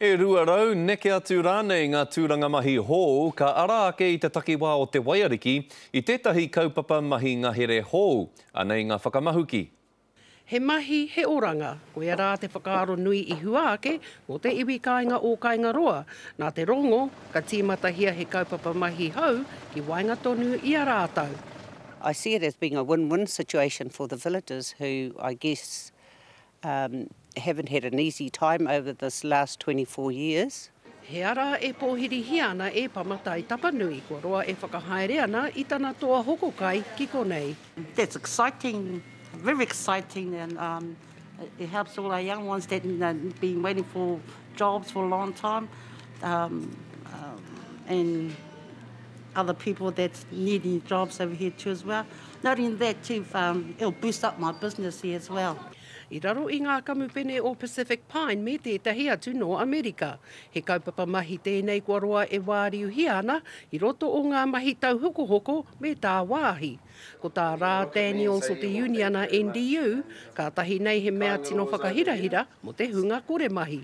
E rua rau, neke atu rānei ngā tūranga mahi hou ka ara ake i te takiwā o te waiariki i tētahi kaupapa mahi ngahere hou. Anei ngā whakamahuki. He mahi, he oranga, koia rā te whakaaro nui i hua ake mō te iwi kāinga o Kaingaroa. Nā te rongo, ka tīmatahia he kaupapa mahi hou ki waenga tonu i a rātou. I see it as being a win-win situation for the villagers who, I guess, Um, haven't had an easy time over this last 24 years. He ara e pōhirihia ana e Pama Tai Tapanui, kua roa e whakahaere ana i tana toa hoko kai ki konei. That's exciting, very exciting and um, it helps all our young ones that have been waiting for jobs for a long time um, um, and other people that's needing jobs over here too as well. Not in that too far, it'll boost up my business here as well. I raro i ngā kamupene o Pacific Pine me tētahi atu nō Amerika. He kaupapa mahi tēnei kua roa e wāriuhia ana i roto o ngā mahi tauhokohoko me tāwāhi. Ko tā Rā Daniels o te uniana NDU, kātahi nei he mea tino whakahirahira mō te hunga kore mahi.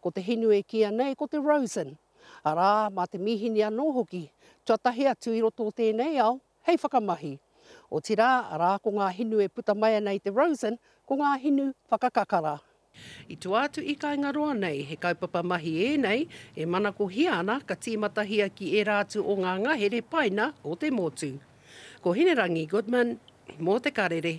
Ko te hinu e kīia nei ko te rosin, arā, mā te mīhini anō hoki, tuatahi atu i roto o tēnei ao, hei whakamahi. Otirā, arā, ko ngā hinu e puta mai ana i te rosin, ko ngā hinu whakakakara. I tua atu i Kaingaroa nei, he kaupapa mahi ēnei e manakohia ana ka tīmatahia ki ērā atu o ngā ngahere paina o te motu. Ko Hinerangi Goodman, mō Te Karere.